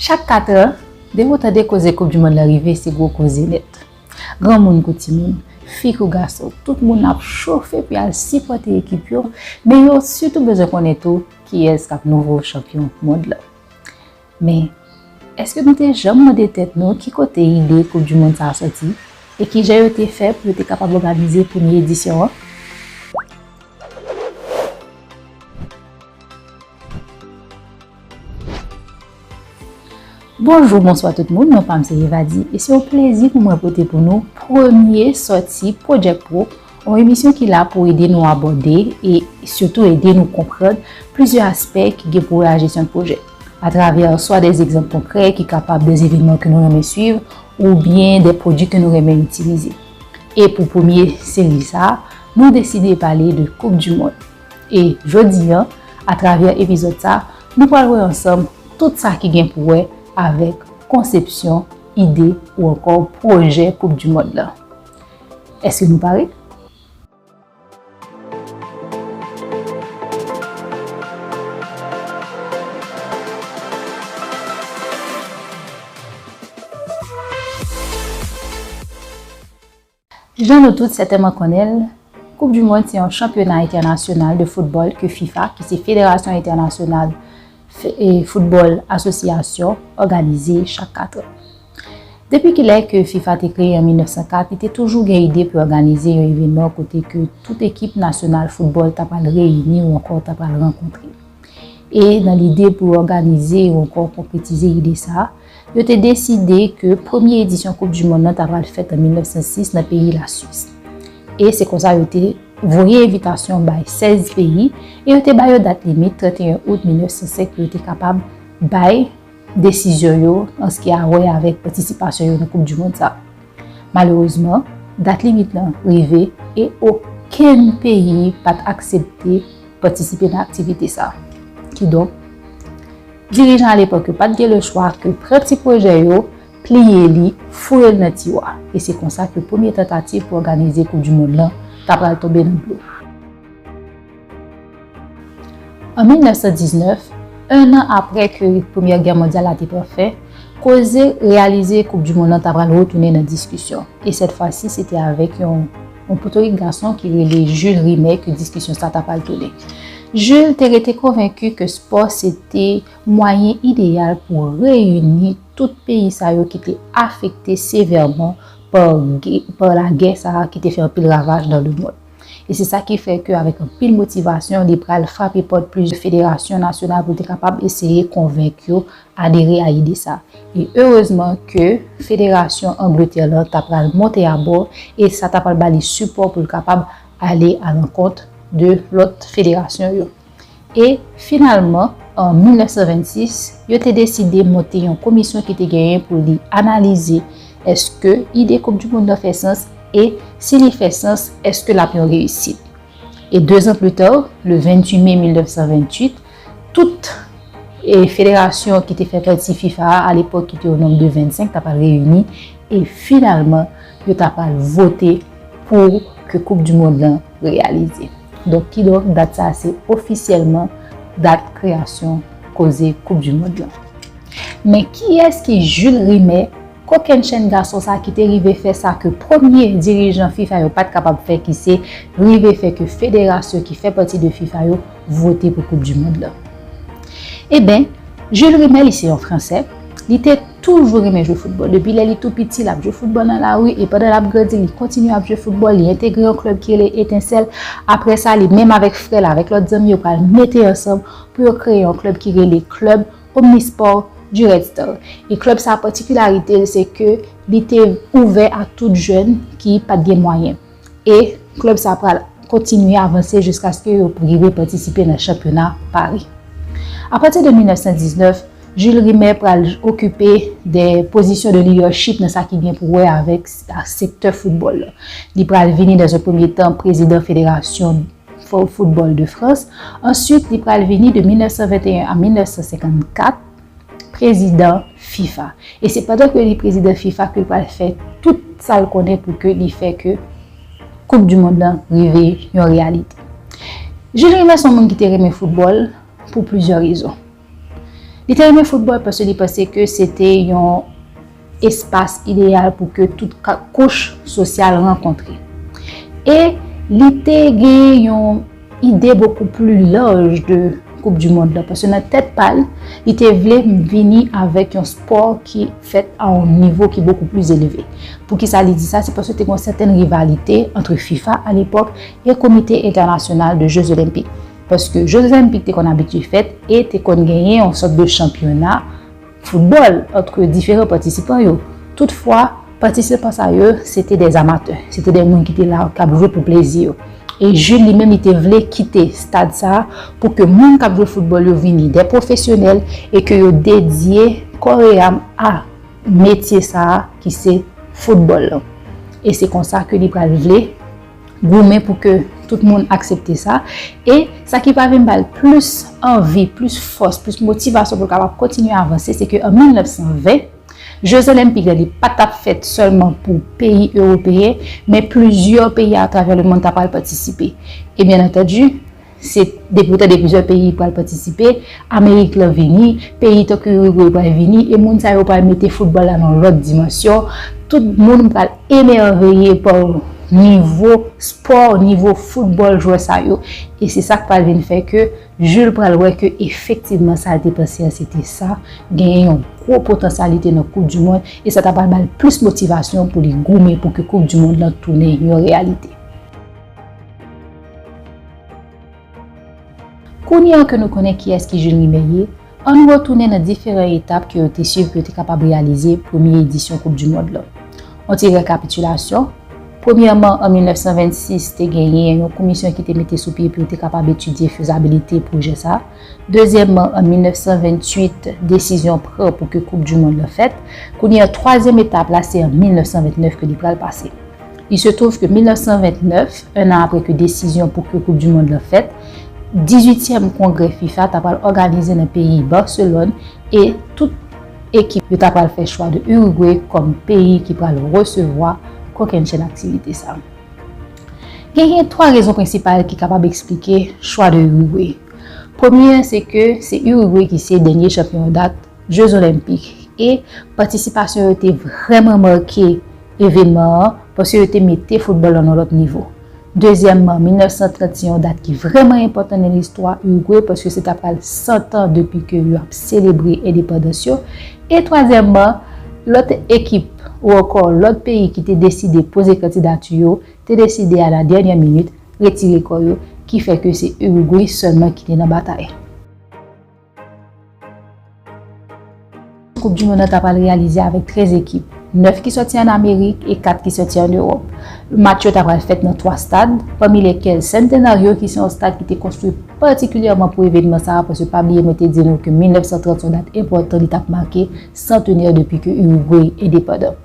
Chak katrè, depi w tande koze koup di mond la rive se gwo koze nèt. Granmoun kou timoun, fi kou gason, tout moun ap chofe pou y al sipòte ekip yo, men yo sitou bezwen konnen tou kiyès k ap nouvo chanpyon mond la. Men, èske nou te janm mande tèt nou ki kote ide koup di mond sa a sòti e kijan yo te fè pou yo te kapab òganize premye edisyon an? Bonjou, bonswa tout moun, non pa m se Evadi e se yon plezi pou mwen pote pou nou premye sòti Project Pro, yon emisyon ki la pou ede nou abòde e sitou ede nou konprann plizyè aspè ki gen pou wè a jesyon pwojè atravè swa de egzanp konkrè ki kapab de evenman ke nou renmen swiv oubyen de pwodui ke nou renmen itilize. E pou premye seri sa, nou deside pale de koup di mond. E jodi an, atravè epizòd sa, nou pral wè ansanm tout sa ki gen pou wè avèk konsepsyon, ide ou ankò pwojè koup du mond lan. Eske nou pare? Jan nou tout sètènman konnen l, Koup di Mond se yon chanpyona entènasyonal de foutbòl ke fifa, ki se Federasyon Entènasyonal Foutbòl Asosyasyon, òganize chak katran. Depi kilè ke fifa te kreye an 1904, li te toujou gen ide pou òganize yon evenman kote ke tout ekip nasyonal foutbòl ta pral reyini ou ankò ta pral rankontre. E nan lide pou òganize ou ankò konkretize ide sa, Yo te deside ke premye edisyon koup du mond nan ta pral fèt an 1906 nan peyi la Swis. E se konsa yo te voye envitasyon bay 16 peyi e yo te ba yo dat limit 31 out 1905 pou yo te kapab bay desizyon yo an se ki a wè avèk patisipasyon yo nan koup du mond sa. Malerezman, dat limit lan rive e okenn peyi pat aksepte patisipe nan aktivite sa. Kidonk. Dirijan alepòk yo pat gen le chwa ke pran ti pwojè yo, pliye li, foure l nan tiwa. E se konsa ke premye tantativ pou òganize koup du mond lan ta pral tonbe nan dlo. An 1919, 1 an apre ke premyè gè mondyal la te pran fen, koze reyalize koup du mond lan ta pral retounen nan diskisyon. E sèt fwa si se te avèk yon Yon potorik gason ki rele Jules Rimet ke diskisyon sa ta pral tounen. Jules te rete konvenki ke spò se te mwayen ideyal pou reyini tout peyi sa yo ki te afekte sevèman pa lagè sa a ki te fè anpil ravaj nan lemonn. E se sa ki fè ke avèk anpil motivasyon li pral frape pòt plizyè federasyon nasyonal pou l te kapab eseye konvenk yo adere a ide sa. E erezman ke federasyon Angletè lan ta pral monte abò e sa ta pral ba li sipò pou l kapab ale alankont de lòt federasyon yo. E finalman, an 1926, yo te deside monte yon komisyon ki te genyen pou li analize èske ide koup di mond lan fè sans e si li fè sans èske l ap yon reyisit. E dezan pli ta, le 28 me 1928, Tout federasyon ki te fè pati fifa a alepòk ki te o nonm de 25 ta pral reyini e finalman yo ta pral vote pou ke koup du mond lan reyalize. Donk kidonk dat sa a se ofisyèlman dat kreyasyon koze koup du mond lan. Men kiyès ki Jules Rimet, kokennchenn gason sa ki te rive fè sa ke premye dirijan fifa yo pat kapab fè ki se rive fè ke federasyon ki fè pati de fifa yo vote pou koup du mond lan. Eben, Jules Rimet li se yon fransè, li te toujou renmen jwe foutbòl. Depi lè li tou piti, l ap jwe foutbòl nan lari e pandan l ap grandi, li kontinye ap jwe foutbòl, li entegre yon klèb ki rele Etensèl. Aprè sa, li menm avèk frè l, avèk lòt zanmi yo pral mete ansanm pou yo kreye yon klèb ki rele Club Omnisports du Red Star. E klèb sa patikilarite l se ke li te ouvè a tout jèn ki pat gen mwayen. E klèb sa pral kontinye avanse jiskaske yo rive patisipe nan chanpyona Paris. A pati de 1919, Jules Rimet pral okipe de pozisyon de lidèchip nan sa ki gen pou wè avèk sektè foutbòl la. Li pral vini dan ze premye tan prezidan federasyon foutbòl de Frans, answit li pral vini de 1921 a 1954, prezidan fifa e se pandan ke li prezidan fifa ke li pral fè tout sa l konnen pou ke li fè ke koup du mond lan rive yon reyalite Jules Rimet son moun ki te renmen foutbòl pou plizyè rezon li te renmen foutbòl paske li panse ke se te yon espas ideyal pou ke tout kouch sosyal rankontre. E li te genyen yon ide bokou pli laj de koup di mond la, paske nan tèt pa l, li te vle vini avèk yon spò ki fèt a yon nivo ki bokou pli elve. Poukisa li di sa? Se paske te gen yon sèten rivalite antre fifa a lepòk e komite entènasyonal de je zolenpik. Paske je zolenpik te konn abitye fèt e te konn genyen yon sòt de chanpyona, foutbòl antre diferan patisipan yo. Toutfwa, patisipan sa yo se te de amatè, se te de moun ki te la k ap jwe pou plezi yo. E Jules li menm li te vle kite stad sa a pou ke moun k ap jwe foutbòl yo vini de pwofesyonèl e ke yo dedye kò e am a metye sa a ki se foutbòl lan. E se konsa ke li pral vle. goumen pou ke tout moun aksepte sa, e sa ki va vin ba l plis anvi, plis fòs, plis motivasyon pou l kapab kontinye avanse, se ke an 1920, Je Zelen pi gran li pa t ap fèt sèlman pou peyi ewopeyen, men plizyè peyi atravè lemonn ta pral patisipe. E byenantèdi, Se depi ou tande plizyè peyi pral patisipe, Amerik lan vini, peyi tankou Uruguay pral vini e moun sa yo pral mete foutbòl la nan lòt dimansyon. Tout moun pral emèveye pa nivo spò, nivo foutbòl jwè sa yo. E se sa k pral vin fè ke Jules pral wè ke efektivman sa l te panse an se te sa, genyen yon gwo potansyalite nan koup di mond e sa ta pral ba l plis motivasyon pou li goumen pou ke koup di mond lan tounen yon reyalite. Kounye a ke nou konnen kiyès ki Jules Rimet ye, ann retounen nan diferan etap ke yo te swiv pou yo te kapab reyalize premye edisyon koup du mond lan. On ti rekapitilasyon, Premyèman, an 1926, te genyen yon komisyon ki te mete sou pye pou yo te kapab etidye fezabilite pwojè sa. Dezyèmman, an 1928, desizyon pran pou ke koup du mond lan fèt. Kounye a, twazyèm etap la, se an 1929 ke li pral pase. Il se trouve ke 1929, un an apre ke desizyon pou ke koup du mond lan fèt, dizuityèm kongrè fifa ta pral òganize nan peyi Barcelone e tout ekip yo ta pral fè chwa de Uruguay kòm peyi ki pral resevwa kokennchenn aktivite sa. Genyen 3 rezon prensipal ki kapab eksplike chwa de Uruguay. Premye an se ke se Uruguay ki se dènye chanpyon dat Jeux Olympiques e patisipasyon yo te vrèman make evenman an paske yo te mete foutbòl lan nan lòt nivo. Dezyèmman, 1930 se yon dat ki vrèman enpòtan nan listwa Urugwe paske se ta pral 100 tan depi ke yo ap selebre endepandans yo e twazyèmman, lòt ekip ou ankò lòt peyi ki te deside poze kandidati yo te deside a la dènyè minit retire kò yo ki fè ke se Urugwe sèlman ki te nan batay. Koup du mond an ta pral reyalize avèk 13 ekip, 9 ki sòti an Amerik e 4 ki sòti an Ewòp. Match yo ta pral fèt nan 3 stad, pami lèkèl Centenario ki se yon stad ki te konstwi patikilyèman pou evènman sa a paske pa bliye mwen te di nou ke 1930 se yon dat enpòtan li t ap make santenè depi ke Urugway endepandan.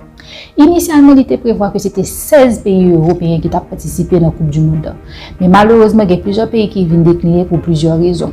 Inisyalman li te prevwa ke se te 16 peyi Ewopeyen ki t ap patisipe nan koup du mond an, men malerezman gen plizyè peyi ki vin dekline pou plizyè rezon.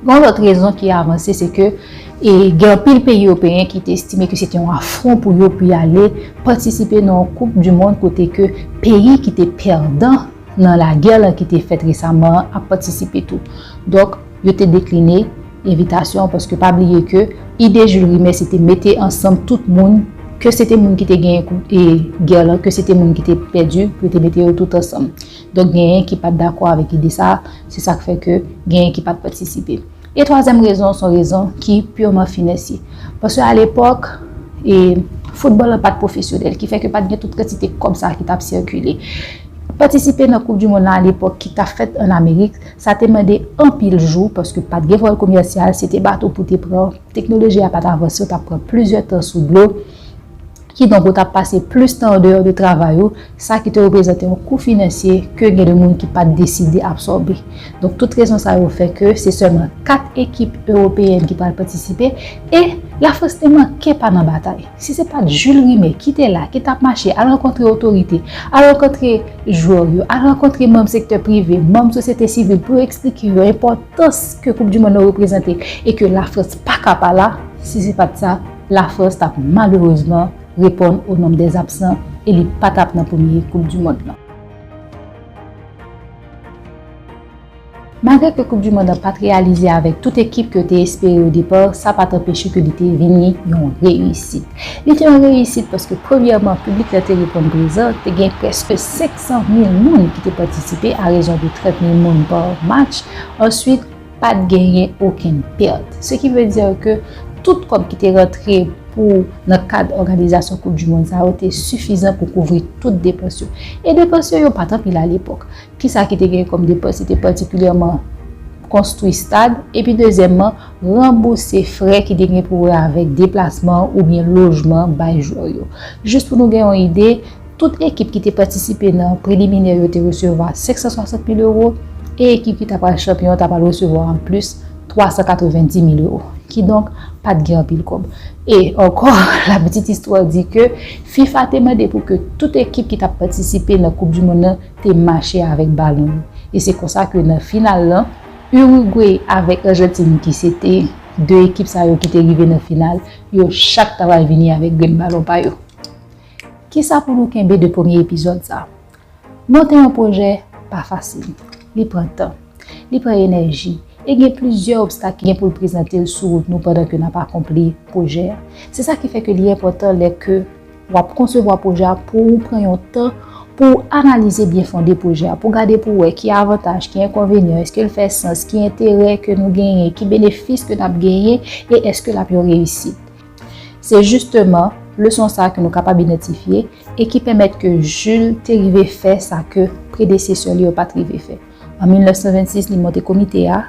Yon lòt rezon ki avanse se ke gen anpil peyi ewopeyen ki te estime ke se te yon afron pou yo pou y ale patisipe nan yon koup di mond kote ke peyi ki te pèdan nan lagè lan ki te fèt resaman an ap patisipe tou. Donk, yo te dekline envitasyon an paske pa bliye ke ide Jules Rimet se te mete ansanm tout moun, ke se te moun ki te genyen koup gè lan, ke se te moun ki te pèdi, pou yo te mete yo tout ansanm. Donk genyen ki pat dakò avèk ide sa a, se sak fè ke genyen ki pat patisipe. E twazyèm rezon son rezon ki purement financier. Paske a lepòk, e foutbòl la pat pwofesyonèl, ki fè ke pat gen tout kantite kòb sa a ki tap sikile. Patisipe nan koup di mond lan a lepòk ki tap fèt an Amerik, sa te mande anpil jou, paske pat gen vòl komèsyal, se te bato pou te pran, teknoloji a pat avanse, ou tap pran plizyè tan sou dlo. Kidonk ou ta pase plis tan andeyò de travay ou, sa ki te reprezante yon kou finansye ke gen de moun ki pat deside absòbe. Donk tout rezon sa yo fè ke se sèlman 4 ekip Ewopeyèn ki pral patisipe e Lafrans te manke pa nan batay. Si se pat Jules Rimet ki te la, ki tap mache al rankontre otorite, al rankontre jwè yo, al rankontre manm sektè prive, manm sosyete sivil pou yo eksplike yo enpòtans ke koup du mond nan reprezante e ke Lafrans paka pa la, si se pat sa, La Frans t ap malerezman reponn au nombre des absents e li pa t ap nan premye koup du mond lan. Malgre ke koup du mond lan pa t reyalize avèk tout ekip ke yo te espere au départ, sa pa t anpeche ke li te vini yon reyisit. Li te yon reyisit paske premyèman piblik la te reponn prezan, te gen prèske 500 mil moun ki te patisipe a rezon de 30 mil moun par match, answit, Pa t genyen okenn pèt. Se ki vle di ke tout kòb ki te rantre pou nan kad òganizasyon koup dimond sa yo te sifizan pou kouvri tout depans yo. E depans yo, yo pa t anpil alepòk. Ki sa ki te genyen kòm depans? Se te patikilyèman konstwi stad epi dezyèmman ranbouse frè ki te genyen pou wè avèk deplasman oubyen lojman bay jwè yo. Jis pou nou gen yon ide. Tout ekip ki te patisipe nan preliminè yo te resevwa 560 mil ewo e ekip ki ta pral chanpyon ta pral resevwa an plis 390 mil ewo. Kidonk, pa t gen anpil kòb. E, ankò, lapitit istwa di ke fifa te mande pou ke tout ekip ki t ap patisipe nan koup di monn nan te mache avèk balon yo. E se konsa ke nan final lan, Urugwe avèk Ajantin ki se te 2 ekip sa yo ki te rive nan final, yo chak ta pral vini avèk grenn balon pa yo. Kisa pou nou kenbe de premye epizòd sa? Monte yon pwojè pa fasil. Li pran tan. Li pran enèji. E gen plizyè obstak ki gen pou l prezante l sou wout nou pandan ke n ap akonpli pwojè a. Se sa ki fè ke li enpòtan lè ke w ap konsevwa pwojè a pou ou pran yon tan pou ou analize byen fonde pwojè a, pou w gade pou w wè ki avantaj, ki enkonvenyan, eske l fè sans, ki enterè ke nou genyen, ki benefis ke n ap genyen e eske l ap yon reyisit. Se jisteman leson sa ke nou kapab idantifye e ki pèmèt ke Jules te rive fè sa ke predesesè li yo pat rive fè. An 1926 li monte komite a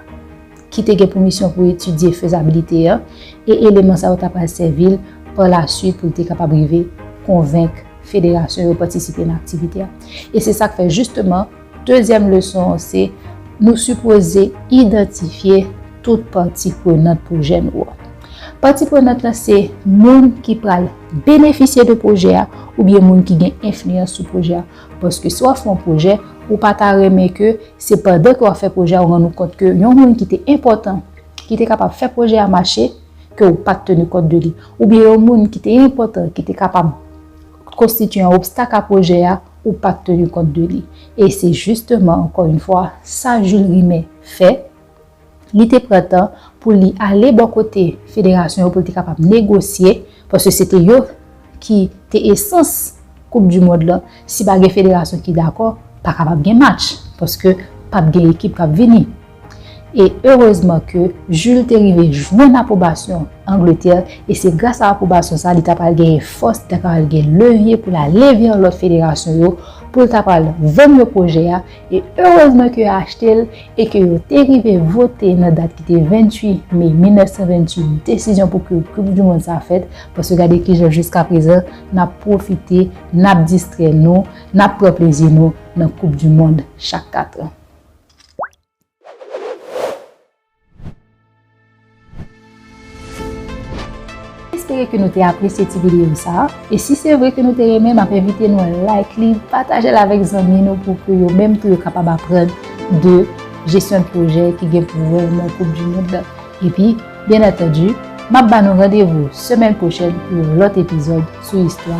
ki te gen pou misyon pou etidye fezabilite an e eleman sa yo ta pral sèvi l pa lasuit pou l te kapab rive konvenk federasyon yo patisipe nan aktivite a. E se sak fè jisteman. Dezyèm leson an se, nou sipoze idantifye tout pati prenant pwojè nou an. Pati prenant la se moun ki pral benefisye de pwojè a oubyen moun ki gen enfliyans sou pwojè a. Paske si w ap fè yon pwojè, ou pa ta renmen ke se pandan ke w ap fè pwojè a ou rann ou kont ke yon moun ki te enpòtan, ki te kapab fè pwojè a mache, ke ou pa t teni kont de li. Oubyen yon moun ki te enpòtan, ki te kapab konstitye yon obstak a pwojè a, ou pa t tenu kont de li. E se jisteman, ankò yn fwa, sa Jules Rimet fè, li te pran tan pou li ale bò kote federasyon yo pou l te kapab negosye, paske se te yo ki te esans koup du mond lan, si pa gen federasyon ki dakò, pa kapab gen match, paske p ap gen ekip k ap vini. E erezman ke Jules te rive jwenn apwobasyon Angletè e se gras a apwobasyon sa li ta pral genyen fòs, li ta pral gen levye pou l ale vè lòt federasyon yo pou l ta pral vann yo pwojè a e erezman ke yo achte l e ke yo te rive vote nan dat ki te 28 me 1928 desizyon pou ke koup du mond sa fèt paske gade kijan jiskaprezan n ap pwofite n ap distrè nou n ap pran plezi nou nan koup du mond chak katran. Espere ke nou te apresye ti videyo sa a, e si se vre ke nou te renmen map envite nou like li, patajel avèk zanmi nou pou ke yo menm tou yo kapab aprann de jesyon pwojè ki gen pou wè nan koup du mond la. Epi, byen antandu, map ba nou randevou semèn pwochèn pou yon lòt epizòd sou istwa